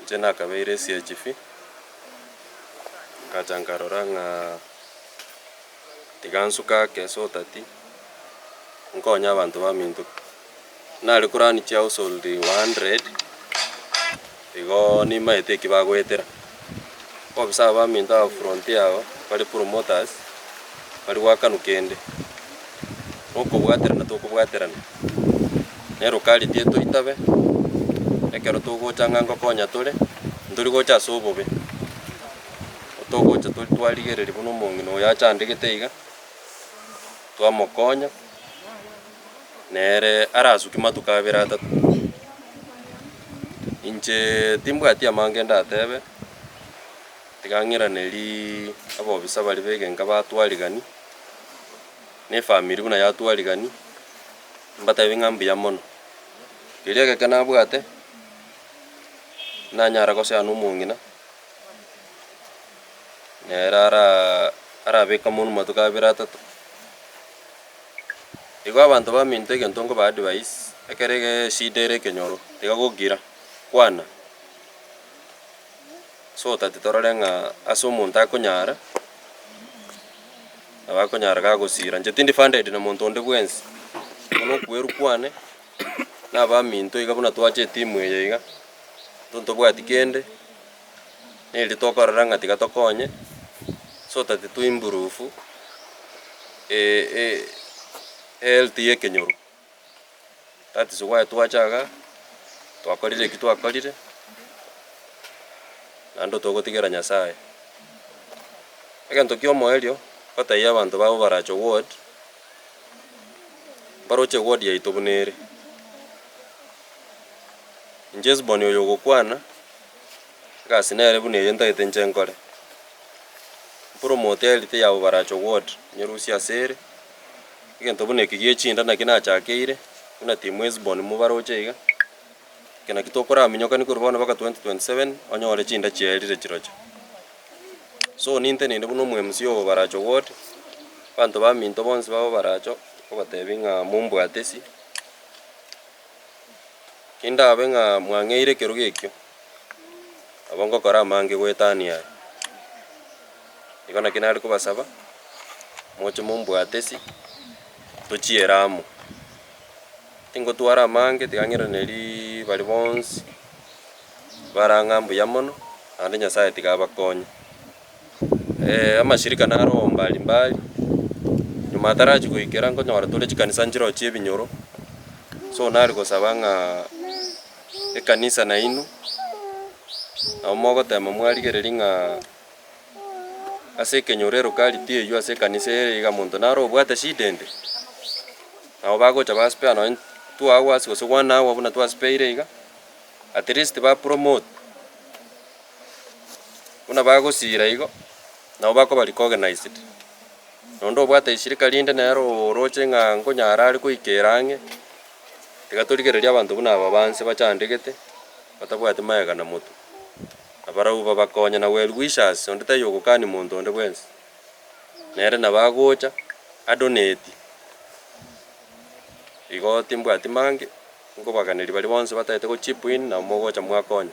Inche nakabeire esie chifi, ngacha nkarora ng'a tiga nsuke ake so that nkonye abanto baminto. Nare korani chiausol one hundred, igo nimaete eki bagoetera. Obobe sabaminto aba fronti yao bare promoters bari gwakanu kende nokobwaterana tokobwaterana nero kariti etoitabe ekero togocha ng'a ngokonya tore ntori gocha ase obobe togocha tori twarigereria buna omong'ina oyo achandegete iga twamokonya. nere arasuki matuko abere atato. Inche timbwati amange ndatebe, tiga ng'iraneri abobisa baria b'egenka batwarigani, na efamiri buna yatwarigani, mbatebie ng'a mbuya mono. Keria egeke nabwate, nanyare gosea nomong'ina, nere ara arabeke amonwe matuko abere atato. Igo abanto baminto egento nkoba advice, ekero eshida ere ekenyoro, tiga gogira, kwana, so that torore ng'a ase omonto akonyara, nabo akonyara gagosira. Inche tindi funded na monto onde bwensi, igo na okweru kwane, na abaminto iga buna twache etimu eye iga, intwe ntobwati kende. neri tokorora ng'a tiga tokonye so that to improve health ya ekenyoro. That is why twacha igaa twakorire ekio twakorire naende togotigera Nyasaye. Egento kia omoerio ngotebia abanto babo barache ward, baroche ward yaito buna ere. Inche esiboni oyo ogokwana. Egasi nere buna eye ntagete inche nkore. Promote health ya Obarach ward nyerusie ase ere, egento buna eke gie chinda naki nachakeire, buna team Hesbon mobaroche iga, eke naki tokoraminyokani korwa bono mpaka 2027 onyore chinda chiaerire chiroche. So ninteneine buna omoMCA o Obaracho ward, abanto baminto bonsi ba Obaracho nkobatebia ng'a mombwate isi. Kindabe ng'a mwang'eire ekerogo ekio, nabo ngokora amange goetania aya. Igo naki nare kobasaba, moche mombwate ase tochiere amo. Tingotwara amange, tiga ng'iranerii baria bonsi, bare ang'a mbuya mono, naende Nyasaye tiga abakonye. amashirika na roho mbali mbali, nyuma atarachia goikera nkonyora tore chikanisa nchirochio chia ebinyoro, so nare gosaba ng'a ekanisa nainwe nabo mogotema mwarigereria ng'a ase ekenyoro elocality eywo ase ekanisa eye iga monto nare obwate shida ende, nabo bagocha ba spare nonye two hours gose one hour buna twasipeire iga, at least ba promote. Buna bagosiira igo, nabo bakoba recognized. Na onde obwate eshirika rinde nere oroche ng'a nkonyara are koikera ang'e, tiga torigererie abanto buna aba banse bachandegete, batabwati magega na motu. Na barabwo babakonye na well wishers, onde taiyo ogokani monto onde bwensi. Nere nabo agocha, a donate. Igo timbwati mange, nkobaganeria baria bonsi batagete go chip in, nabo mogocha mwakonya.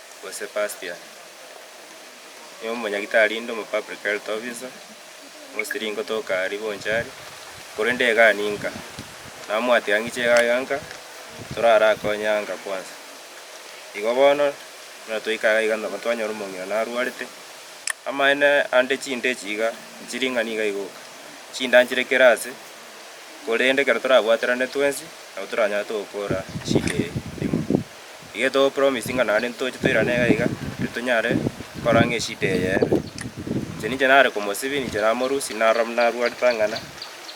o Sebastian, na omonyagitari inde omo public health officer, mosiri ngotoka aria bonchari, korende egani nka namwatia ng'iche iga iga nka torarakonye aa nka kwansa. Igo bono buna toika iga iga nabo twanyora omong'ina narwarete, amaene ande chinda echi iga chiring'ana iga igoka, chinda nchire kera ase, korende ekero torabwaterane twensi nabo toranyare togokora eshida eye emo. Igetogopromisinga naende ntoche toirane iga iga, riria tonyare gokora ng'a eshida eye ebe. Inche ninche nare komosibia, ninche namorusia, narora buna narwarete ang'ana,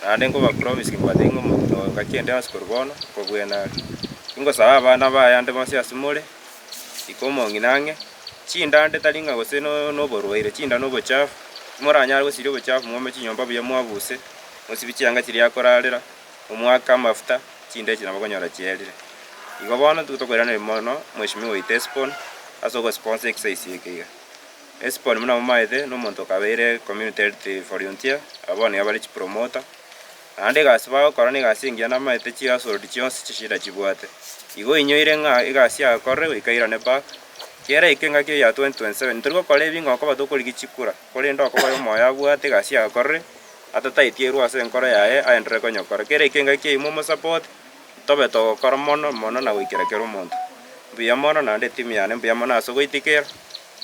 naende nkobapromisinga mbabate ng'a omonto oyo ngaki ende onsi korwa bono, okobwene are. Ingosaba abana baye ande bonsi ase more, iko omong'ina ang'e, chinda ande tari ng'a gose no- noborwaire, chinda na obochafu, timoranyare gosiria obochafu, mwome chinyomba buya mwabuse, mosibie chianga chiria akorarera. omoake amafuta, chinda echi nabo okonyora chierire. Igo bono nigo tokoiraneria mono mweshimiwa oito Esbon ase ogosiponsa ekisaisi eke iga. Esbon buna momaete, nomonto okabeire community health volunteer, aba bono nigo bare chipromoter, naende egasi bagokora negasi engiya namaete chihousehold chionsi chishida chibwate. Igo oinyoire ng'a egasi yakorire goika airane back, kiera eke engaki eye ya 2027 tori gokora ebing'oko koba tokorigia chikura, korende okoba oyo omoyo abwate egasi yakorire, Atataitigwa ase enkoro yaye aenderere konyokora kera ekenga kiaino omosapote, tobe togokora mono mono na goikera kera omonto. Mbuya mono naende etimu yane, mbuya mono ase ogoitikera.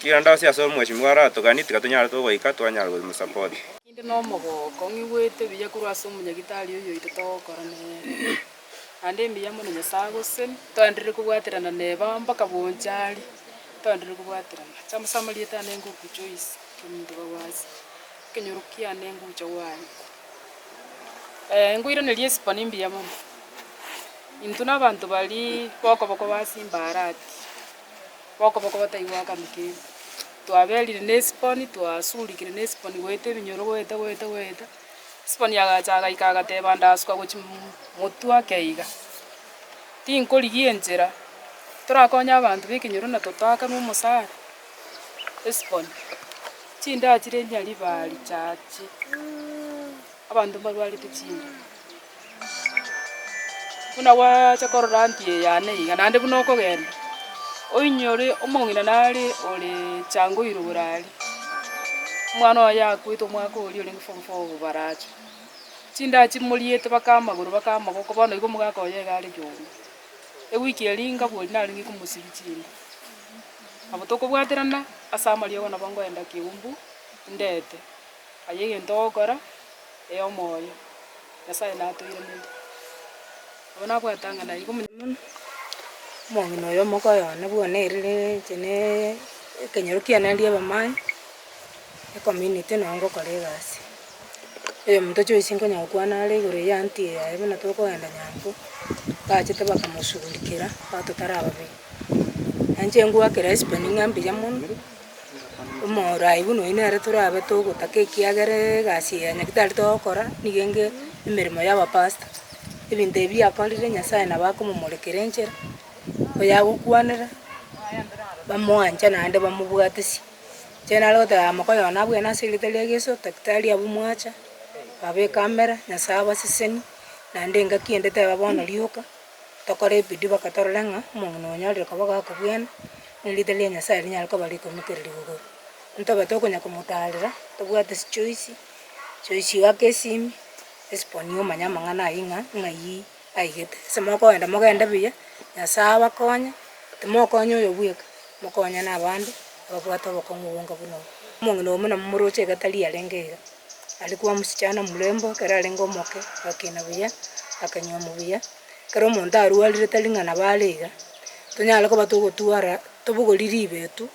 Tiga nda ase ase omweshimiwa aratoganie, tiga tonyare togoika twanyare komosapotia. Ninde nomogooko, ng'igwete buya korwa ase omonyagitari oyoito togokora nere. Naende mbuya mono Nyasae agoseni, toenderere kobwaterana neba mpaka bonsi aria, toenderere kobwaterana. Chama ase amarieta ane ngoku Joyce, omonto bwa Gwasia. Ekenyoro kiane ngocha gwaye. Ee, ngoiraneria esipani mbuya mono. Intwe nabanto bari bokoboko base imbarati, bokoboko bataigwakani kende. Twaberire nesipani, twasurikire nesipani goeta ebinyoro goeta goeta goeta. Esipani agacha agaika agateba ndasuka gochia mm motwe ake iga. Tinkorigia enchera, torakonye abanto bekenyoro na totakanwe omosara. Hesiboni, chindaa chire eriina ri'Baali chiaachie, abanto mbarwarete chinda. Buna gwacha korora nti eyane iga, naende buna okogenda, oinyore omong'ina nare ore chango irwe bore aria. Omwana oye akwete omwaka oria orenge form four obobaracho. Chindaa chimoriete mpaka amagoro mpaka amaboko bono igo omogaka oye iga are yonde. Ewiki eria ngabori narenge komosibia chinda. Nabo tokobwaterana ase amariogo nabo ngoenda Kiumbu indeete aye egento ogokora ee omoyo Nyasaye natoiraneti. Nabo nabwate ng'a naigo omonene mono. Omogina oyo omogoye one buna erire inche ne ekenyoro kiane eria ebamai ecommunity nabo ngokora egasi. Oyomonto choisi nkonya gokwana are igoro ya auntie yaye buna tokoenda nyango, bachete bakamoshugurikera batotara ababere. Nainche ngoakera esibeni ng'a mbuya mono, omorai buna oyio nere torabe togotaka ekiagera egasi eye onye tari togokora nigo enge emeremo y'abapasta. Ebinto ebi biakorire Nyasaye nabo akomomorekera enchera, oyagokwanera bamwanche naende bamobwatesie. Inche nare goteba yamo koyona abwo ase erieta ria Yeso, daktari abwo mwacha, babeka amera, Nyasaye abasesenie, naende engaki ende teba bono rioka. Tokore ebidii mpaka torore ng'a omong'ina oyo onyorire koba goaka bwene, na erieta ria Nyasae rinyare koba rikomitereri igoro. Ntobe tokonya komotaarera, tobwate chichoisi, chichoisi goaka esimi, esiponi omanye amang'ana ayio ng'a ng'ai aigete. Ase mokoenda mogende buya, Nyasae abakonye, timokonya oyo bweka, mokonye na abande ababwate obokong'u obonga buna obo. Omong'ina oyo buna momoroche iga tari yarenge iga. Arikwa omosichana omorembe ekero arenge omoke, agakina buya, akanywomwa buya. Ekero omonto arwarire tari ng'a nabo are iga, tonyare koba togotwara tobogori ribeetu,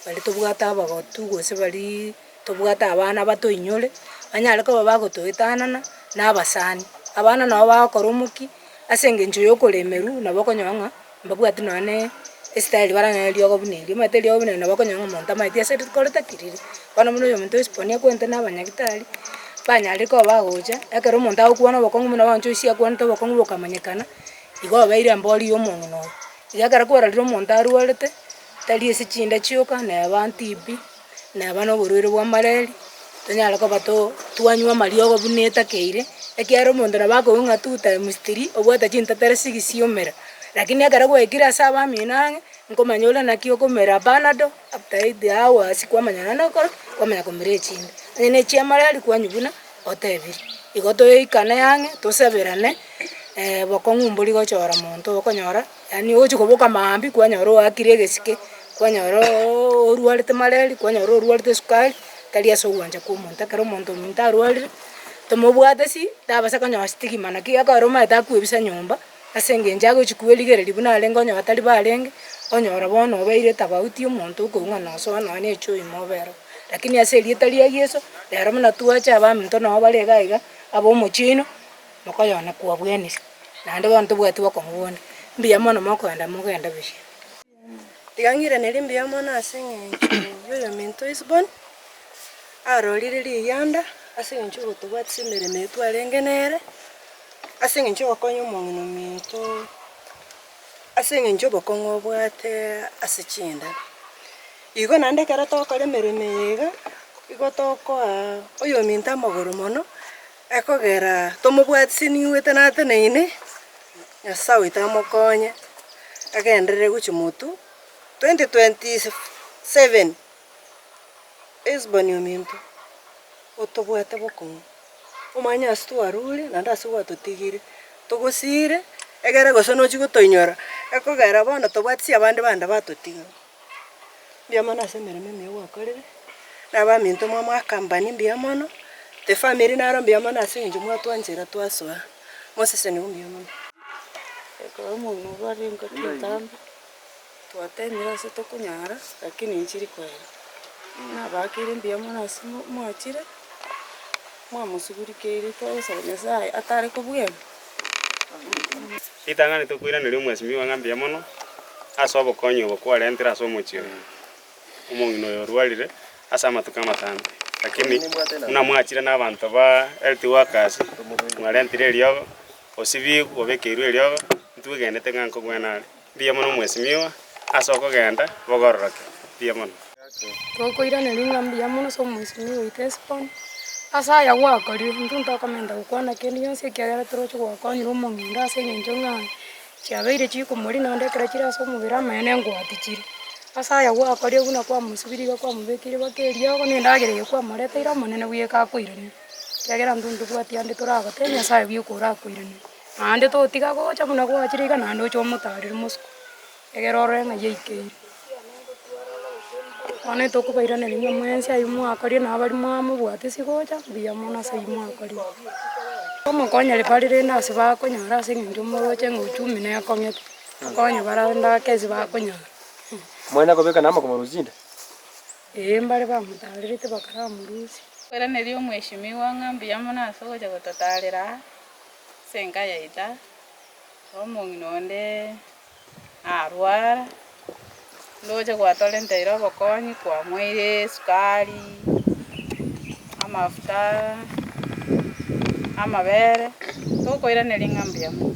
baria tobwate abagotu gose baria tobwate abana batoinyore, banyare koba bagotoetanana na abasani. Abana nabo bagokora omokia ase engencho ya okoremerwa, nabo okonyora ng'a. Mbabwati nonye esitaeli bare nonye eriogo buna erio, omanyete eriogo buna erio nabo okonyora ng'a omonto amaeti ase rikoro takiriri. Bono buna oyo omonto oisiponia kwete na abanyagitari, banyarire koba bagocha, ekero omonto agokwana obokong'u buna owancha oisia akwanete obokong'u bokamanyekana, igo obeire embori ya omong'ina oye. Iga ekero kwarorire omonto arwarete, tari ase chinda chioka, neba tibi. Naba noborwaire bwa malaria, tonyare koba too twanywa amariogo buna etakeire, ekiagera omonto nabo akoigwa ng'a two times three, obwate chintetero sigisi omera. Lakini ekero gwaikire ase abamino ang'e, nkomanya ore naki okomera panado, after eight hours kwamanya nonye nokora, kwamanya komera echinde. Onye ne chia malaria kwanywa buna otebiri. Igo toikane ang'e, tosaberane bokong'u mborigochora monto okonyora. Yaani ogochia koboka maambia kwanyora oakire egesike, kwanyora oooo orwarete mareri, kwanyora orwarete esukari, tari ase ogwancha kwa omonto, ekero omonto ominto arwarire, tomobwate ase ii, tabasa konyoa stigma naki ekero omanyete akwebisa nyomba, ase eng'encho agochi kwerigereria buna arenge onye batari barenge, onyora bono obeire tofauti ya omonto okoigwena osoa nonya na echoo ime obere oo. Lakini ase erieta ria Yeso, rero buna twache abaminto nabo bare iga iga, aba omochie oino. Mokoyone kwabwenerwe, naende bono tobwati bokomoboria, Mbuya mono mokogenda, mogende bosio. Iga ng'ireneri mbuya mono ase eng'encho y'oyominto o Isiboni, arorire riganda ase eng'encho y'ogotobwatisa emeremo eye twarenge nere, ase eng'encho y'ogokonya omong'ina ominto, ase eng'encho y'obokong'u obwate ase chinda. Igo naende ekero togokora emeremo eye iga, igo tokoa oyominto amagoro mono. Ekogera tomobwatise nigwete nateneine, Nyasae oito amokonye agenderere gochia Motu 2027. Esbon ominto otobwate bokong'u, omanye ase twarure naende ase gwatotigire, togosiire egere gose nochi gotoinyora, ekogera bono tobwatisi abande bande batotiga. Mbuya mono ase emeremo emiya gwakorire, na abaminto mwamwakambani mbuya mono, efamiri naro mbuya mono ase eng'encho mwatwanchera twasoa, mwaseseniwa mbuya mono. Ekero omogina obo arenge chintambe, twatemire ase tokonyara, lakini nchiri koira. Nabakeire mbuya mono ase mo- mwachire, mwamosugurikeiri twagosaba Nyasaye atare kobwema. Ritang'ani tokoiraneria omwesimigwa ng'a mbuya mono ase obokonyi obo kwarentire ase omochie oyo omong'ina oyo orwarire ase amatuko amatambe. Lakini buna mwachire nabanto ba health workers, mwarentire eriogo, osibigwe, obekeirwe eriogo, intwe twegenete ng'a nkogwena are. Mbuya mono mwesimiowa ase okogenda bogororoke. Mbuya mono. Tokoiraneria ng'a mbuya mono ase omwesimiowa oito Hesiboni, ase aya gwakorire. Intwe ntokomenta gokwana kende gionsi ekiagera toroche gwakwanire omong'ina ase engencho ng'a chiabeire chikomorina onde ekero chire ase omobere amanyene engwati chire. Ase aya gwakorire buna kwamosubirie iga kwamobekeire baka eriogo na endagera eye kwamoreteire omonene buya ekakoiranigwa, ekiagera intwe ntobwati ande toragotebi Nyasaye buya oko orakoiranigwe. Naende totiga gocha buna gwachire iga naende oche omotarire omosiko, egere orore ng'a yaikeire. Bono etokobairaneria ng'a mwensi aywo mwakorire na abari mwamobwate ase gocha, mbuya mono ase aywo mwakorire. Omokonyire bare rende ase bakonyara ase eng'encho moroche ng'a ochumi nekong'ete, okonye bare ase endagaka eria bakonyara. Mwanya kobeka namba komorusia inde? Ee, mbare bamotarerete bakaramorusia. Tokoiraneria Omweshimiwa ng'a mbuya mono ase ogocha gototarera aa. Senka yaita, omong'ina onde narwara, ndoche gwatorenta ere obokonyi, kwamoeire esukari, amafuta, amabere, tokoiraneria ng'a mbuya mono.